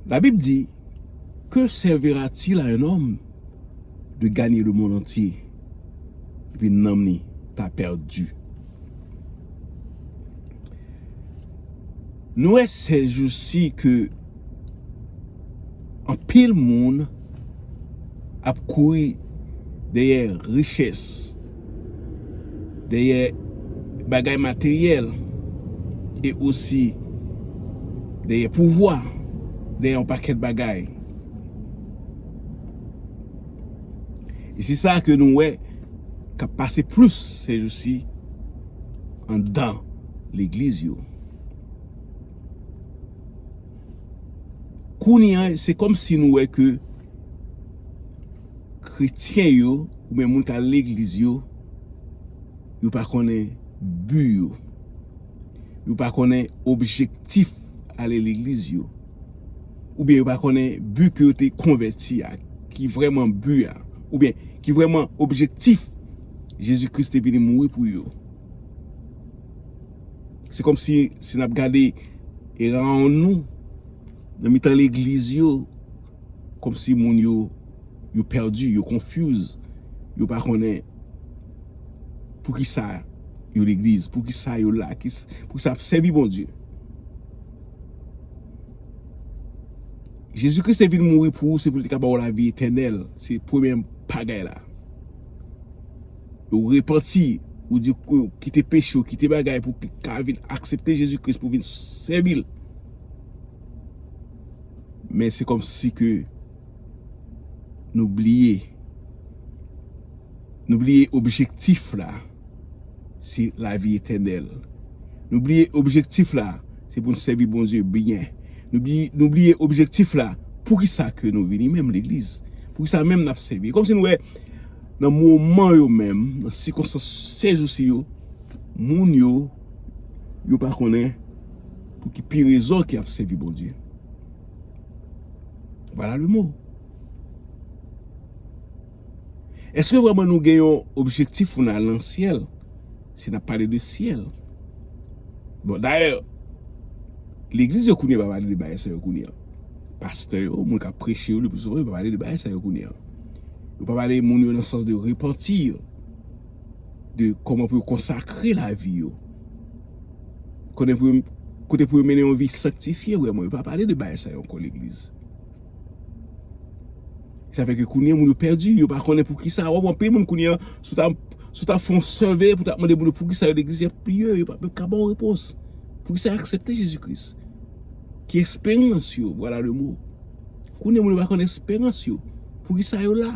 La Bible dit, Que servira-t-il à un homme de gagner le monde entier et puis nanm li ta perdu? Nou wè ces jours-ci que anpil moun ap kouri dèyè richesse. dèyè bagay materyèl e osi dèyè pouvwa, dèyè yon pakèt bagay. E se sa ke nou wè kap pase plis se jou si an dan legliz yo. Kounye an se kòm si nou wè ke. kretyen yo ou byen moun kal legliz yo yo pa konnen bi yo yo pa konnen objektif ale legliz yo ou byen yo pa konnen bi ke yo te konvèti a ki vreman bi a ou byen ki vreman objektif Jezi Kris te vini mouri pou yo se kom si se nap gade e raon nou nan mitan legliz yo Komsi moun yo yo perdu, yo confuse, yo pa konnen poukisa yo legliz, poukisa yo la, poukisa yap sèvi Bondye. Jezi Kris te vin mouri pou ou se pou li te ka ba ou lavi etènèl, se premye bagay la. Ou repanti, ou di ou kite peche ou, kite bagay pou ka vin aksepte Jezi Kris pou vin sèvi l. Men se kòm si ke nou bliye. Nou bliye objektif la se la vi etènèl. Nou bliye objektif la se pou n sèvi Bondye byen. Nou bliye objektif la pou ki sa ke nou vini menm legliz. Pou ki sa menm n ap sèvi. Kòm si nou wè nan moman yo menm, nan sikonstans sezousi yo, moun yo, yo pa konnen. Pou ki pi rezon ki ap sevi Bondye? Vwala le mo. Eske vwèman nou gen yon objektif pou nou al nan syèl? Si nap pale de syèl. Bon dayè, legliz yo kounye pa pale de bagay sa yo kounye an. Pastè yo, moun kap preche yo, lepi souvan yo pa pale de bagay sa yo kounye an. Yo pa pale moun yo nan sans de repanti yo. De kòman pou yo konsakre lavi yo. Kote pou yo mennen yon vi sanktifye vrèman, yo pa pale de bagay sa yo ankò legliz. Sa fè ke kounye moun yo pèdi, yo pa konnen poukisa, wap wè anpil moun kounye, sou ta sou ta fon sèveye pou ta mande moun yo poukisa yo legliz, yap bliye, yo pa menm ka baw repons. Poukisa yo aksepte Jezi Kris? Ki esperans yo, vwala le mo. Kounye moun yo pa konnen esperans yo, poukisa yo la.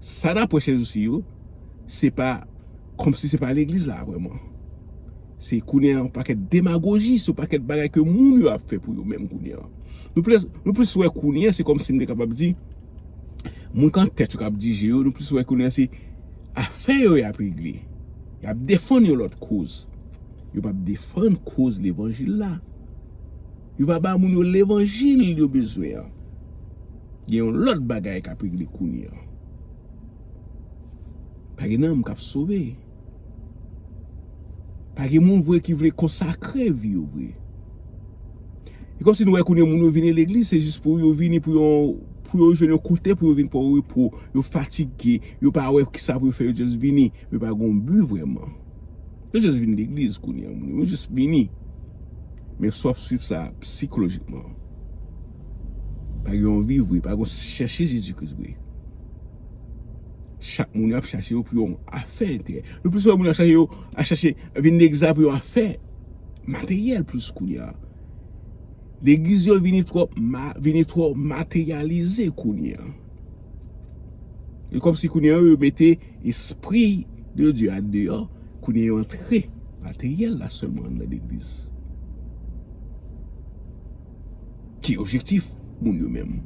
Sa nap wè sezousi yo, se pa kòmsi se pa legliz la vrèman. Se kounye an yon pakèt demagoji, se yon pakèt bagay ke moun yo ap fè pou yo menm kounye an. Nou plis wè kounye an se kòmsi m te kapab di, moun kan tèt yo kap dije yo, nou plis wè kounye an se afè yo yap regle. Yap defann yon lòt koz. Yo pap defann koz levanjil la. Yo pa ba moun yo levanjil yo bezwen an. Gen yon lòt bagay kap regle kounye an. Pa gen nanm kap sove. Pa gen moun vre ki vle konsakre vi yo vre. E kòmsi nou wè kounye moun yo vini legliz se jis pou yo vini pou yon pou yo jwenn yon kote pou yo vin pran repo, yo fatige, yo pa wè kisa pou yo fè yo just vini, yo pa gon but vrèman. Yo just vin legliz kounye an moun yo just vini men si wap swiv sa psikolojikman pa gen yon viv vre pa gen yon chèche Jezi Kris vre chak moun yo ap chache yo pou yon afè enterè nou plis wè moun yo ap chache yo ap chache vin legliz la pou yon afè materyèl plis kounye an legliz yo vini twòp vini twò materyalize kounye an e kòmsi kounye an yo mete Espri de Dye a deyò, kounye yo antre materyèl la sèlman anndan legliz. Ki objektif moun yo menm?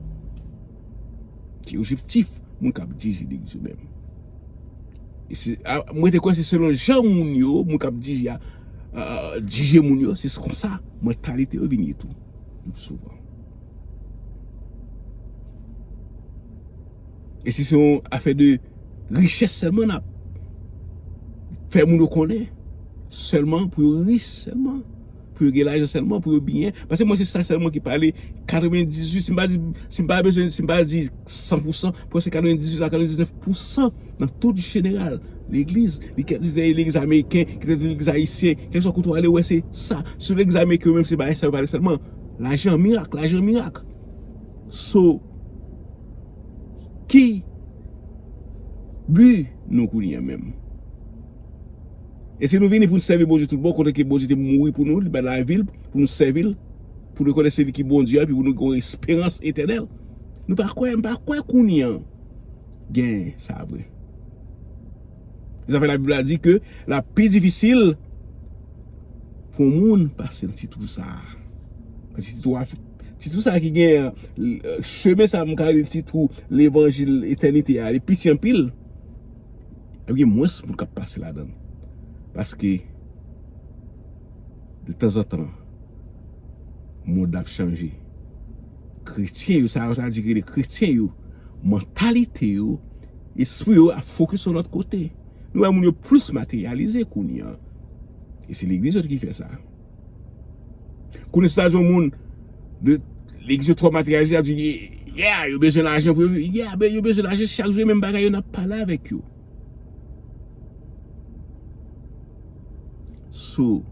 Ki objektif moun kap dirije legliz yo menm? Mwen te kwè se selon jan moun yo, moun kap dirije a dirije moun yo, se konsa mantalite yo vin ye tou, le pi souvan. E si se yon afè de richès sèlman n ap fè moun yo konnen sèlman pou yo rich sèlman, pou yo gen lajan sèlman, pou yo byen. Pase mwen se sa sèlman ki pale 98, si m pa di, si m pa bezwen, si m pa di 100 pou 100, prèske 98 a 99 pou 100 nan tout jeneral legliz. Li kèk lise legliz ameriken, kèk lise legliz ayisyen, kèk sou kote w ale wè se sa. Sou legliz ameriken yo menm se bagay sa yo pale sèlman. Lajan mirak, lajan mirak. So. Ki but nou kounye a menm? Èske nou vini pou nou sèvi Bondye tout bon kote ke Bondye te mouri pou nou, li bay lavi l pou nou sèvi l, pou nou konnen se li ki Bondye a epi pou nou gen yon esperans etènèl? Nou pa kwè, m pa kwè kounye an gen sa vre. Se sa fè Labib la di ke l ap pi difisil pou yon moun pase nan ti twou sa a. Nan ti twou a. Ti twou sa ki gen an, chemen sa mwen ka rele ti twou levanjil etènite a, li piti anpil. Ap gen mwens moun k ap pase ladan l. Paske, de tanzantan, mond la ap chanje. Kretyen yo, sa yo ta di ki rele kretyen yo, mantalite yo, espri yo ap fokis yon lòt kote. Nou wè moun yo plis materyalize kounye an. E se legliz yo ki fè sa. Kounye sa jan moun de li ki se twò materalize ap di yeah yo bezwen lajan pou yo viv. Yeah men yo bezwen lajan chak jou e menm bagay yo n ap pale avèk yo. So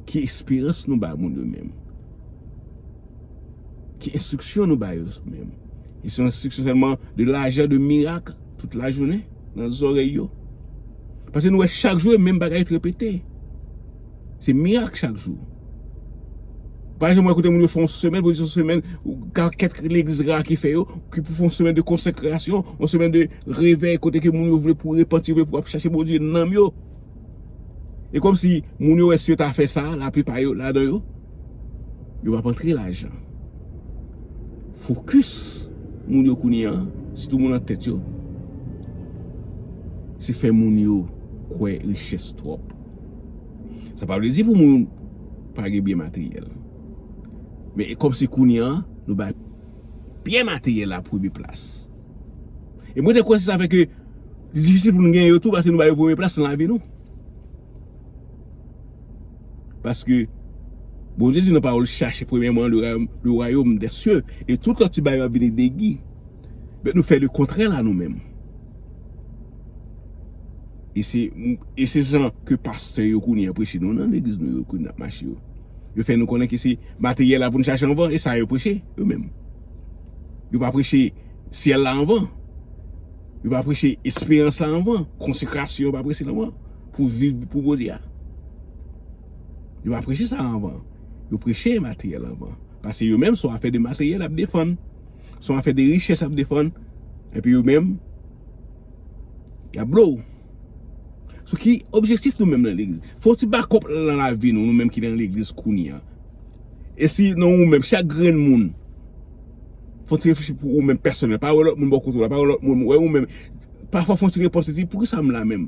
ki esperans nou bay moun yo menm? Ki enstriksyon nou bay yo menm? E se yon enstriksyon sèlman de lajan, de mirak? Tout la jounen nan zorey yo. Pase nou wè chak jou e menm bagay trepete. Se mirak chak jou. Pa jan mwen kote moun yo fon semen, pou yon semen, ka kèk legliz ra ki fè yo, ki pou fon semen de konsekrasyon, yon semen de revèy kote ke moun yo vle pou repanti, vle pou ap chache Bondye nanm yo. E kòmsi moun yo wè si yo ta fè sa, la plipa yo ladan yo, yo pa p antre lajan. Fokis moun yo kounye an, sitou moun an tèt yo, se fè moun yo kwè richès twòp. Sa pa vle di pou moun pa gen byen materyèl. Men e kòmsi kounye an, nou bay byen materyèl la premye plas. E mwen te kwè se sa fè ke li difisil pou nou gen yo tou paske nou ba yo premye plas nan lavi nou. Paske Bondye di nan pawòl li chache premyèman le wayom dè sye e tout lòt ti bagay yo ap vini degi. Bèt nou fè le kontrè la nou menm. E se jan ke pastè yo kounye an preche nou nan legliz nou yo kounye nan ap mache yo. Yo fè nou konnen ke se materyèl la pou nou chache anvan e sa yo preche yo menm. Yo pa preche syèl la anvan. Yo pa preche esperans la anvan. Konsekrasyon yo pa preche anvan. Pou viv pou Bondye a. Yo pa preche sa anvan. Yo preche materyèl anvan. Pase yo menm son afè de materyèl y ap defann. Son afè de richès y ap defann. Epi yo menm y ap blow. Sou ki objektif nou menm nan legliz? Fè yon ti bakòp nan lavi nou, nou menm ki nan legliz kounye a. E si nan ou menm, chak grenn moun, fè yon ti reflechi pou ou menm pèsonèl. Pa wè lòt moun bò kote w la, pa wè lòt moun, wè ou menm. Pafwa fè yon ti repanse, di, pou ki sa m la menm?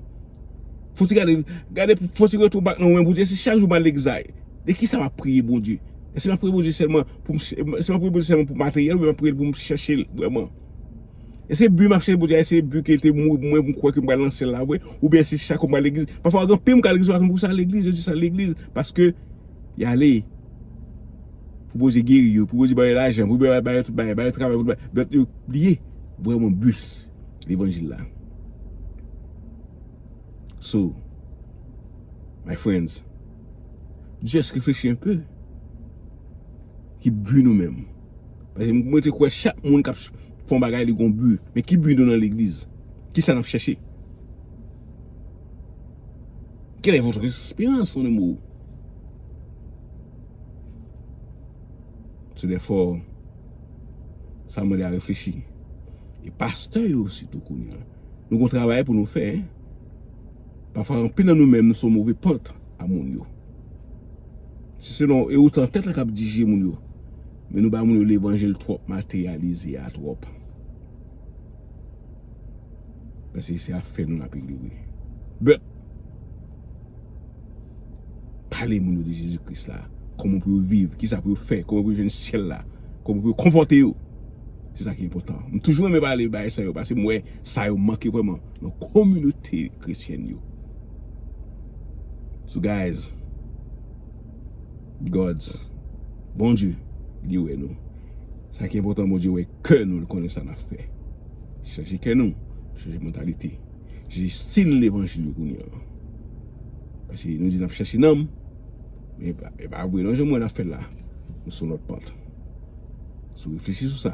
Fè yon ti gade, gade, fè yon ti retou bak nan ou menm pou w di, e si chak jou m al legliz la, de ki sa m ap priye Bondye? Èske m ap priye Bondye sèlman pou m, èske m ap priye Bondye sèlman pou materyèl oubyen m ap priye l pou m chèche l vrèman? E se bi m ap chèche pou di a e se bi ke te mwen mwen m kwè ke m pral nan syèl la vre ou byen se chak fwa m al legliz pafwa gen anpil m k al legliz yo pa konn pou ki sa yo al legliz yo jis al legliz paske y ale pou Bondye geri yo pou Bondye ba yo lajan pou Bondye ba yo tout bagay ba yo travay pou yo ba yo yo bliye vreman bi levanjil la so my friends just reflechi enpe ki bi nou menm. Paske mwen te kwè chak moun kap fè yon bagay li gen yon but. Men ki but nou nan legliz? Kisa nap chèche? Quelle est votre espérance mon amour? Se de fò sa mande a reflechi. E pastè yo sitou kounye a. Nou gon travay pou nou fè. Pafwa anpil nan nou menm nou sou move pant a moun yo. Se selon e otan tèt la kap dirije moun yo. Men nou bay moun yo levanjil twòp materyalize a twòp. Pase se afè nou nap regle wi. But pale moun yo de Jezi Kris la, kòman pou yo viv, kisa pou yo fè, kòman pou yo jwenn syèl la, kòman pou yo konpòte yo. Se sa ki enpòtan. M toujou renmen pale bagay sa yo pase m wè sa yo manke vreman nan kominote kretyèn yo. So guys Gods Bondye li wè nou Sa ki enpotan Bondye wè kè nou li konnen sa nap fè Chanje kè nou Chanje mantalite Chanje stil levanjil yo kounye an Pase nou di nap chache nanm Men e pa vre non jan m wè nap fèl la Nou son lòt pant So reflechi sou sa.